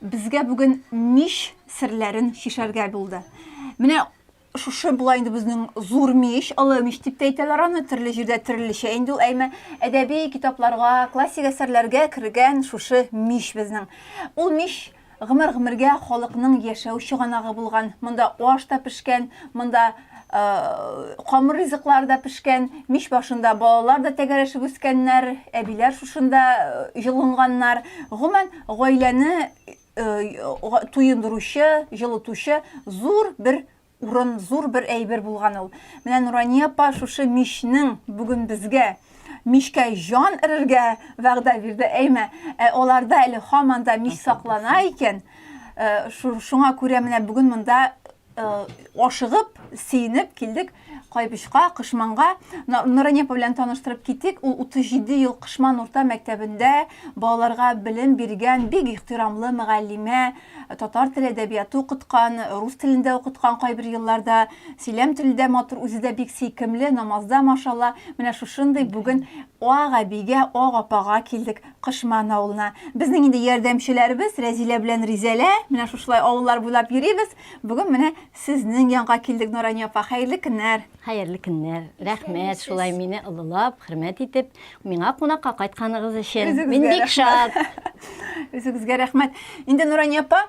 Безгә бүген мич серләрен чишәргә булды. Менә шушы була инде безнең зур мич, олы мич дип тә әйтәләр аны, төрле җирдә төрлечә инде ул, әйме әдәби китапларга, классик әсәрләргә кергән шушы мич безнең. Ул мич гомер-гомергә халыкның яшәү чыганагы булган. Монда аш та пешкән, монда камыр ризыклар да пешкән, мич башында балалар да тәгәрәшеп үскәннәр, әбиләр шушында җылынганнар. Гомумән, гаиләне туендыручы, җылытучы зур бер урын, зур бер әйбер булган ул. Менә Нурания апа шушы мичнең бүген безгә мичкә җан эрергә вәгъдә бирде. Әйме, ә аларда әле һаман да мич саклана икән. Шуңа күрә менә бүген монда Э, ашыгып, сейнеп килдек Кайбычка, Кышманга. Нуранепа белән таныштырып китик. Ул 37 ел Кышман урта мәктәбендә балаларга белем биргән, бик ихтирамлы мөгаллимә, э, татар теле әдәбияты укыткан, э, рус телендә укыткан кайбер елларда, сөйләм телендә матур, үзе дә бик сөйкемле, намазда машалла. Менә шушындый бүген ага бигә, ага апага килдек. Кошман авылына. Безнең инде ярдәмчеләребез Рәзилә белән Ризәлә. Менә шушылай авыллар буйлап йөрибез. Бүген менә сезнең янга килдек, Нурания апа. Хәерле көннәр. Хәерле көннәр. Рәхмәт шулай мине олылап, хөрмәт итеп, миңа кунакка кайтканыгыз өчен. Мин бик шат. Үзегезгә рәхмәт. Инде Нурания апа,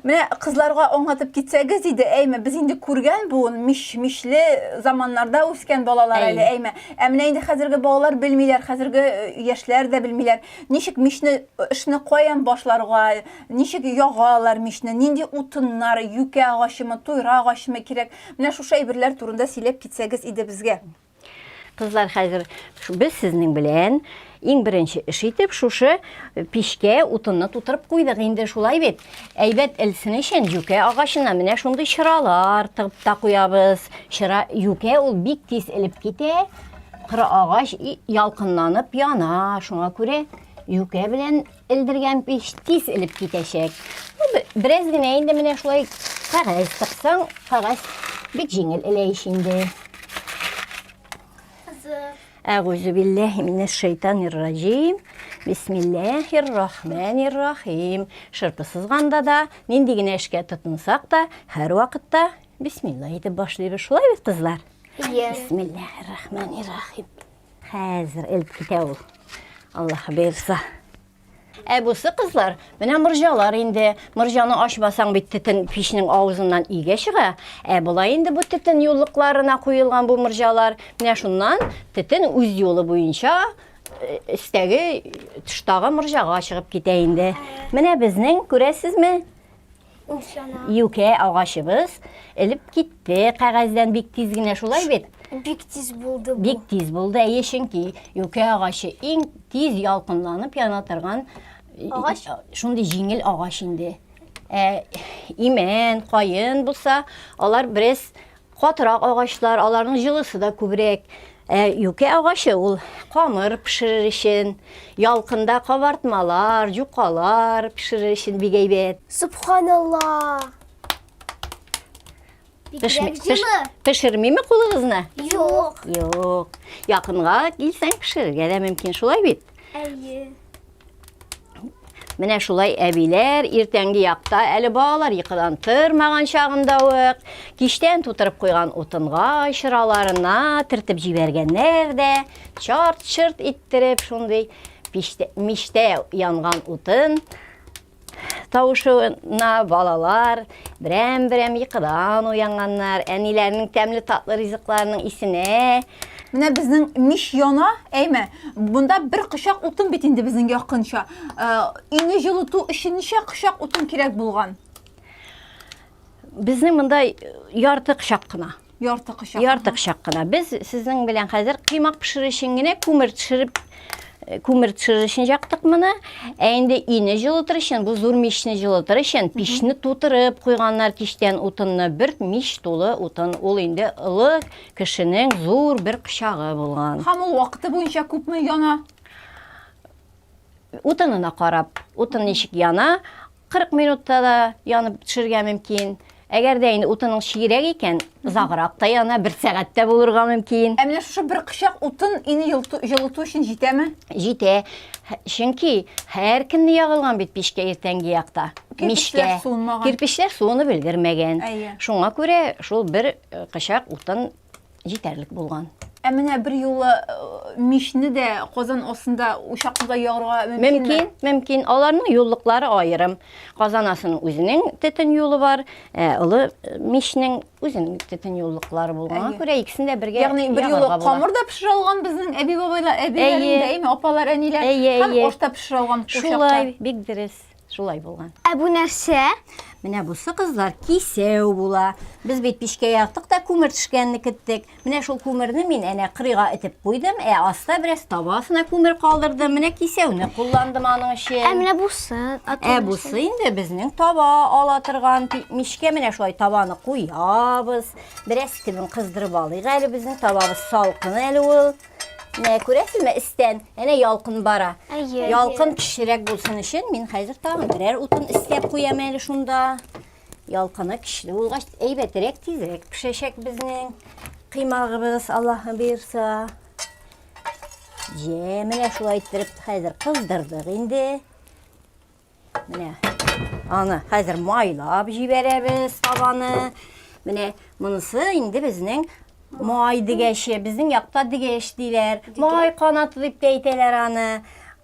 Менә кызларга аңлатып китсәгез иде, әйме, без инде күргән буын, миш-мишле заманнарда үскән балалар Әй. әле, әйме. Ә менә инде хәзерге балалар белмиләр, хәзерге э, яшьләр дә белмиләр. Ничек мишне, э, эшне каян башларга, ничек ягалар мишне, нинди утыннар, юкә агачымы, туйра агачымы кирәк. Менә шушы әйберләр турында сөйләп китсәгез иде безгә. Кызлар, хәзер без сезнең белән иң беренче эш итеп шушы пичкә утынны тутырып куйдык инде, шулай бит. Әйбәт элсен өчен юкә агачына менә шундый чыралар тыгып та куябыз. Чыра юкә ул бик тиз элеп китә. Кыры агач ялкынланып яна, шуңа күрә юкә белән Элдергән пич тиз элеп китәчәк. Бераз генә инде менә шулай кәгазь тыксаң, кәгазь бик җиңел элә ич инде. Әгүзу билләһи минәш шайтанир раҗим. Бисмилләһир рахманир рахим. Шырпы сызганда да, нинди генә эшкә тотынсак та, һәр вакытта бисмилла әйтеп башлыйбыз. Шулай бит, кызлар? Бисмилләһир рахманир рахим. Хәзер элеп китә ул. Аллаһ бирса. Ә бусы кызлар, менә морҗалар инде. Морҗаны ачмасаң бит тетен пичнең авызыннан игә чыга. Ә болай инде бу тетен юллыкларына куелган бу морҗалар. Менә шуннан тетен үз юлы буенча истәге э, тыштагы морҗага чыгып китә инде. Менә безнең, күрәсезме? Юкә агачыбыз элеп китте кәгазьдән бик тиз генә, шулай бит? Бик тиз булды бу. Бик тиз булды, әйе, чөнки юкә агачы иң тиз ялкынланып яна торган агач. Шундый җиңел агач инде. Ә имән, каен булса, алар бераз Катырак агачлар, аларның җылысы да күбрәк. Ә юкә агачы ул камыр пешерер өчен, ялкында кабартмалар, җукалар пешерер өчен бик әйбәт. Субханалла! Бигрәк җылы. Пешермиме кулыгызны? Юк. Юк. Якынга килсәң пешерергә дә мөмкин, шулай бит? Әйе. Менә шулай әбиләр иртәнге якта әле балалар йокыдан тырмаган чагында ук киштән тутырып куйган утынга чыраларына тертеп җибәргәннәр дә чарт-чырт иттереп шундый миштә янган утын Тавышына балалар берәм-берәм йокыдан уянганнар. Әниләренең тәмле татлы ризыкларының исенә Менә безнең мич яна, әйме, монда бер кочак утын бит инде безнең якынча. Өйне җылыту өчен ничә кочак утын кирәк булган? Безнең монда ярты кычак кына. Ярты кычак. Ярты кычак кына. Без сезнең белән хәзер кыймак пешерү өчен генә күмер төшереп э, күмер төшерер өчен яктык моны. Ә инде ине җылытыр өчен, бу зур мичне җылытыр өчен пичне тутырып куйганнар кичтән утынны. Бер мич тулы утын. Ул инде олы кешенең зур бер кычагы булган. Һәм ул вакыты буенча күпме яна? Утынына карап, утын ничек яна, 40 минутта да янып төшергә мөмкин. Әгәр дә инде утының чигрәк икән, озаграк та яна, бер сәгатьтә булырга мөмкин. Ә менә шушы бер кычак утын ине җылыту өчен җитәме? Җитә. Чөнки һәр көнне ягылган бит пичкә иртәнге якта. Мичкә. Кирпечләр суынып өлгермәгән. Шуңа күрә шул бер э, кычак утын җитәрлек булган. Ә менә бер юлы э, мичне дә казан астында учакны да ярырга мөмкинме? Мөмкин, мөмкин. Аларның юллыклары аерым. Казан астының үзенең төтен юлы бар, э, олы э, мичнең үзенең төтен юллыклары булганга күрә икесен дә бергә Ягъни бер юлы камыр да пешерә алган безнең әби-бабайлар, әбиләрдә, әйе, апалар, әниләр һәм ашта пешерә алган Шулай, бик дөрес. Шулай булган. Ә бу нәрсә? Менә бусы кызлар кисәү була. Без бит пичкә яктык та күмер төшкәнне көттек. Менә шул күмерне мин әнә кырыйга этеп куйдым, ә аста бераз таба астына күмер калдырдым. Менә кисәүне кулландым аның өчен. Ә менә бусы? Ә бусы инде безнең таба ала торган мичкә менә шулай табаны куябыз. Бераз төбен кыздырып алыйк әле безнең табабыз салкын әле ул. Менә күрәсезме истән, әнә ялкын бара. Әйе. Ялкын кечерәк булсын өчен мин хәзер тагын берәр утын өстәп куям әле шунда. Ялкыны кичле булгач, әйбәтрәк тизрәк пешәчәк безнең кыймагыбыз, Аллаһы бирса. Җә, менә шулай иттереп хәзер кыздырдык инде. Менә аны хәзер майлап җибәрәбез табаны. Менә монысы инде безнең май дигәче, безнең якта дигәч диләр. Май канаты дип тә әйтәләр аны.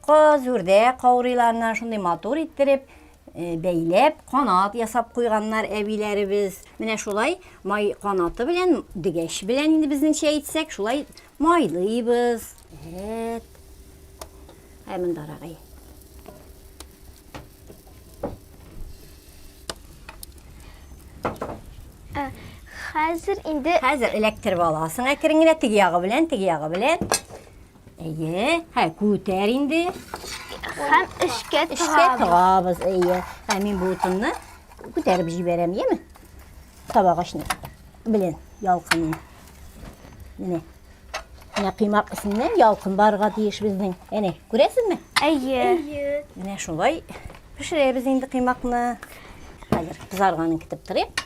Каз, үрдәк каурыйларына шундый матур иттереп э, бәйләп, канат ясап куйганнар әбиләребез. Менә шулай май канаты белән, дигәч белән инде безнеңчә әйтсәк, шулай Майлыйбыз. Рәт. Ә монда рагай. Хәзер инде Хәзер электр баласын әкрен генә теге ягы белән, теге ягы белән. Әйе, һә күтәр инде. Хәм эшкә тыгабыз. Эшкә тыгабыз, әйе. Һә мин бу утынны күтәреп җибәрәм, яме? Табагачны белән ялкынын. Менә. Менә кыймак исеннән ялкын барга тиеш безнең. Әнә, күрәсезме? Әйе. Әйе. Менә шулай пешерәбез инде кыймакны. Хәзер кызарганын көтеп торыйк.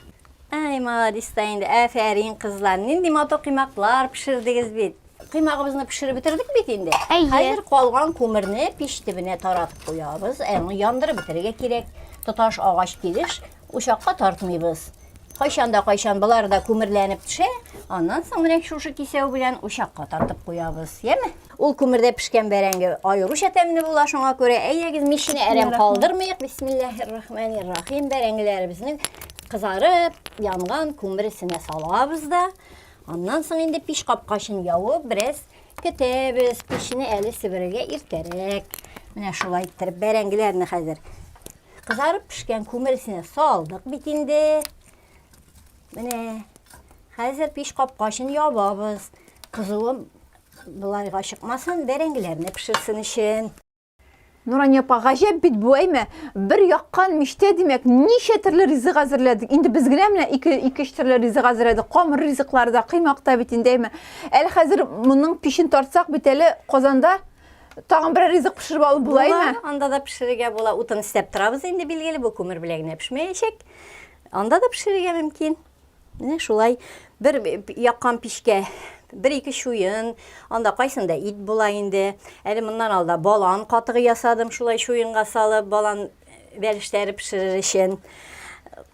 Әй, молодец та инде. Афәрин, кызлар. Нинди матур кыймаклар пешердегез бит. Кыймагыбызны пешереп бетердек бит инде. Әйе. Хәзер калган күмерне пич төбенә таратып куябыз. Аны яндырып бетерергә кирәк. Тоташ агач килеш Учакка тартмыйбыз. Кайчан да кайчан болар да күмерләнеп төшә, аннан соң менә шушы кисәү белән учакка тартып куябыз, яме? Ул күмердә пешкән бәрәңге аеруча тәмле була, шуңа күрә әйдәгез мичне әрәм калдырмыйк. Бисмиллаһир-рахманир-рахим. Бәрәңгеләребезне кызарып, янган күмер эченә салабыз да, аннан соң инде пич капкачын явып, бераз көтәбез. Пешне әле себерергә иртәрәк. Менә шулай иттереп бәрәңгеләрне хәзер Кызарып пешкән күмер эченә салдык бит инде. Менә хәзер пеш капкачын ябабыз. Кызуым былайга чыкмасын, бәрәңгеләрне пешерсен өчен. Нурания апа, гаҗәп бит бу, әйме? Бер яккан мичтә, димәк, ничә төрле ризык әзерләдек. Инде без генә менә ике ике төрле ризык әзерләдек. Камыр ризыклар да, кыймак та бит инде, әйме? Әле хәзер моның пишен тартсак бит әле Казанда Тагын берәр ризык пешереп алып булаймы? Була, анда да пешерергә була. Утын истәп торабыз инде билгеле, бу күмер белән генә пешмәячәк. Анда да пешерергә мөмкин. Менә шулай бер яккан пичкә бер ике чуен, анда кайсында ит була инде. Әле моннан алда балан катыгы ясадым, шулай чуенга салып, балан бәлешләре пешерер өчен.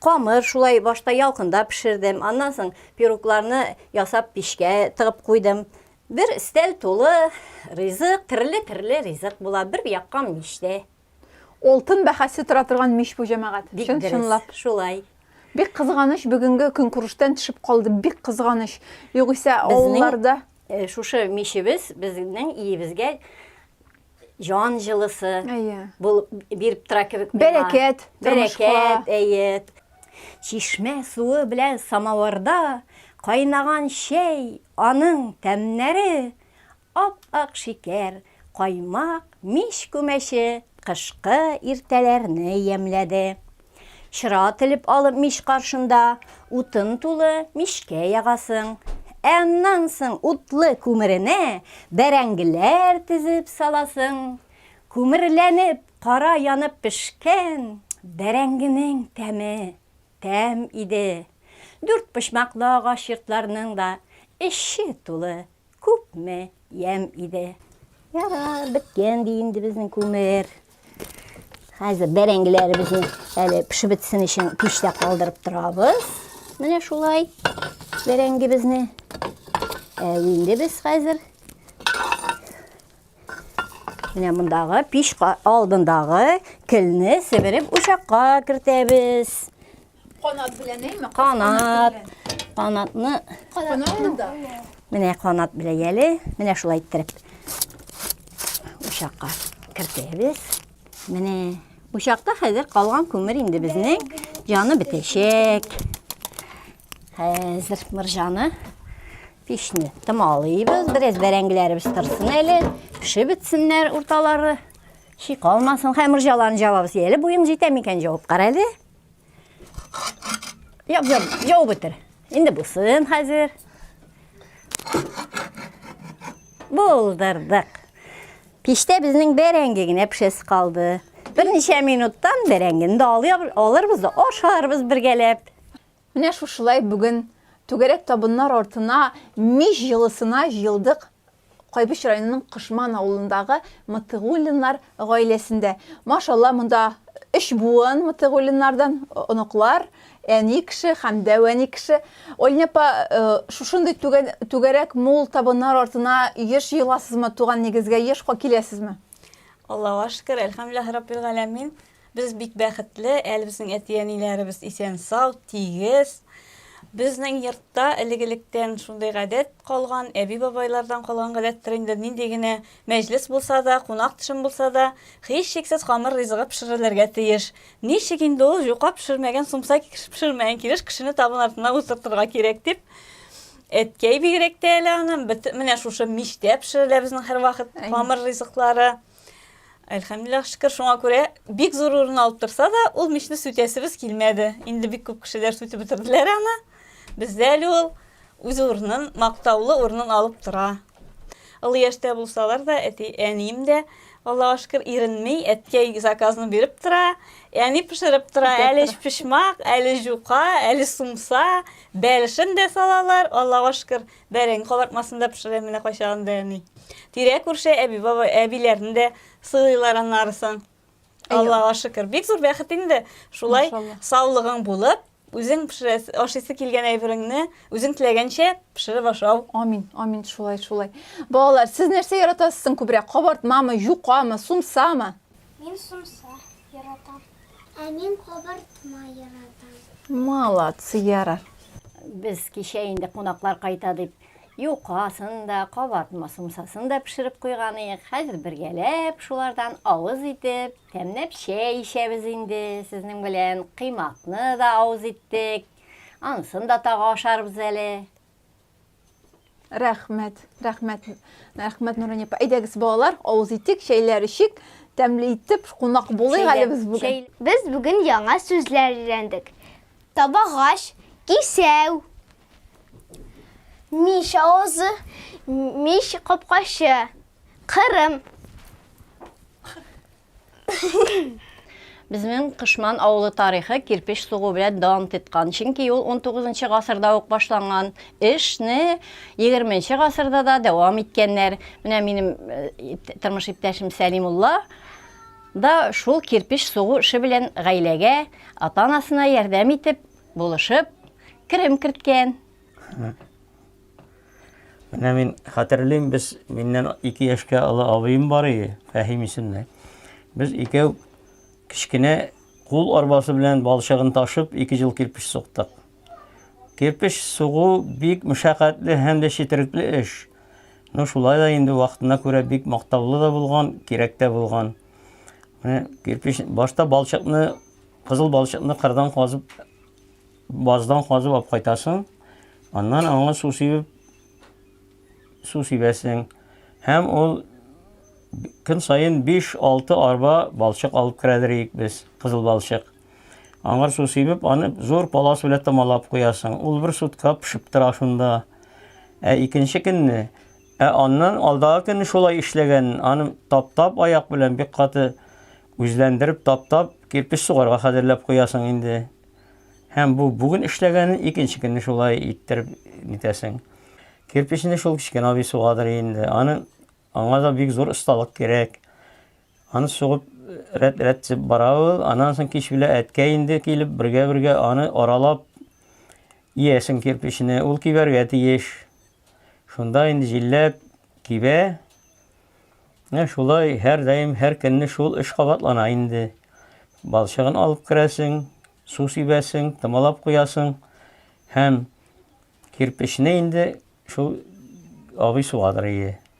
Камыр шулай башта ялкында пешердем. Аннан соң пирогларны ясап пичкә тыгып куйдым. Бер өстәл тулы ризык, терле-терле ризык була бер яккан мичтә. Олтын бәхәсе тора торган мич бу, җәмәгать. Бик дөрес. Чын-чынлап. Шулай. Бик кызганыч, бүгенге көнкүрештән төшеп калды. Бик кызганыч. Югыйсә, авылларда. Безнең шушы мичебез безнең иебезгә җан җылысы. Әйе. Булып биреп тора кебек миңа. Бәрәкәт. Бәрәкәт, әйе. Чишмә суы белән самавырда кайнаган чәй Аның тәмнәре, ап-ак шикәр, каймак, мич күмәче кышкы иртәләрне ямьләде. Чыра телеп алып мич каршында утын тулы мичкә ягасың. Ә аннан соң утлы күмеренә бәрәңгеләр тезеп саласың. Күмерләнеп, кара янып пешкән бәрәңгенең тәме! тәм иде. Дүртпочмаклы агач йортларның да эче тулы, күпме ямь иде. Ярар, беткән ди инде безнең күмер. Хәзер бәрәңгеләребезне әле пешеп бетсен өчен пичтә калдырып торабыз. Менә шулай бәрәңгебезне. Ә инде без хәзер Менә мондагы пич алдындагы келне себереп учакка кертәбез. Канат белән әйме? Канат. Канатны. Канатында. Менә канат белән яле. Менә шулай иттереп. Учакка кертәбез. Менә учакта хәзер калган күмер инде безнең җаны бетәчәк. Хәзер мыржаны Пешне томалыйбыз, бераз бәрәңгеләребез торсын әле, пешеп бетсеннәр урталары. Ши калмасын, хәм морҗаларын җабабыз. Әле буең җитә микән җавып кара әле. Яб, яб, яб бетер. Инде булсын хәзер. Булдырдык. Пиштә безнең бәрәңге генә пешәсе калды. Берничә минуттан бәрәңгене дә алырбыз да ашарбыз бергәләп. Менә шушылай бүген түгәрәк табыннар артына мич җылысына җыелдык Кайбыч районының Кошман авылындагы Мотыгуллиннар гаиләсендә. Машалла, монда өч буын Мотыгуллиннардан, оныклар, әни кеше һәм дәүәни кеше. Олень апа, шушындый түгәрәк мул табыннар артына еш җыеласызмы, туган нигезгә ешка киләсезме? Аллага шөкер, әлхәмдүлилләһи раббил галәмин. Без бик бәхетле, әле безнең әти-әниләребез исән-сау, тигез. Безнең йортта элек-электән шундый гадәт калган, әби-бабайлардан калган гадәттер инде, нинди генә мәҗлес булса да, кунак төшем булса да, һичшиксез камыр ризыгы пешерелергә тиеш. Ничек инде ул, җука пешермәгән, сумса пешермәгән килеш кешене табын артына утыртырга кирәк дип, әткәй бигрәк тә әле аны, менә шушы мичтә пешерелә безнең һәрвакыт камыр ризыклары. Әлхәмдулиллах шөкер, шуңа күрә бик зур урын алып торса да, ул мичне сүтәсебез килмәде. Инде бик күп кешеләр сүтеп бетерделәр аны. Бездә әле ул үз урынын, мактаулы урынын алып тора. Олы яшьтә булсалар да, әти, әнием дә Аллаһуа шөкер иренми, әткәй заказны биреп тора, әни пешереп тора, әле пешмак, әле жука, әле сумса, бәлешен дә салалар, Аллаһуа шөкер, Бәрәң кабартмасын да пешерәм менә кайчагын да әни. Тирә-күрше әби-баба әбиләрне дә сыйлыйлар аннарысын. Аллага шөкер. Бик зур бәхет инде. Шулай саулыгың булып, үзең пешерәс, ашыйсы килгән әйбереңне үзең теләгәнчә пешереп ашау. Амин, амин, шулай, шулай. Балалар, сез нәрсә яратасыз соң күбрәк? Кабартмамы, юкамы, сумсамы? Мин сумса. Яратам. Ә мин кабартма яратам. Молодцы, Яра. Без кичә инде кунаклар кайта дип, юкасын да, кабартма сумсасын да пешереп куйганыек. Хәзер бергәләп шулардан авыз итеп, тәмләп чәй ишәбез инде сезнең белән. Кыймакны да авыз иттек. Ансын да тагы ашарбыз әле. Рәхмәт, рәхмәт, рәхмәт Нурания апа. Әйдәгез, балалар, авыз итик, чәйләр ичик, тәмле итеп кунак булыйк әле без бүген. Без бүген яңа сүзләр өйрәндек. Табагач, кисәү. Мич авызы, мич капкачы. Кырым. Безнең Кышман авылы тарихы кирпич сугу белән дан титкан. Чөнки ул 19-нчы гасырда ук башланган эшне 20-нче гасырда да дәвам иткәннәр. Менә минем э, тормыш иптәшем Сәлимулла да шул кирпич сугу эше белән гаиләгә, ата-анасына ярдәм итеп, булышып, керем керткән. Менә мин хәтерлим, без миннән 2 яшькә олы абыем бар иде, Фәһим исемле. Без икәү кечкенә кул арбасы белән балчыгын ташып, ике ел кирпич суктык. Кирпич сугу бик мешәкатьле һәм дә четерекле эш. Ну шулай да инде вакытына күрә бик мактаулы да булган, кирәк тә булган. Менә кирпич башта балчыкны, кызыл балчыкны кырдан казып Баздан казып алып кайтасың, аннан аңа су сибеп, су сибәсең. Һәм ул көн саен 5-6 арба балчык алып керәдер идек без, кызыл балчык. Аңар су сибеп, аны зур палас белән тамалап куясың. Ул бер сутка пешеп тора шунда. Ә икенче көнне, ә аннан алдагы көнне шулай эшләгән, аны таптап аяк белән бик каты үзләндереп таптап кирпич сугарга хәзерләп куясың инде. Һәм бу бүген эшләгәнен икенче көнне шулай иттереп нитәсең. Кирпечне шул кечкенә абый сугадыр инде. Аны аңа да бик зур осталык кирәк. Аны сугып рәт-рәт дип бара ул. Аннан соң кич белән әткә инде килеп бергә-бергә аны аралап иясен кирпечне. Ул кибәргә тиеш. Шунда инде җилләп кибә. Ә шулай һәрдаим һәр көнне шул эш кабатлана инде. Балчыгын алып керәсең, су сибәсең, томалап куясың һәм кирпечне инде шул абый сугадыр иде.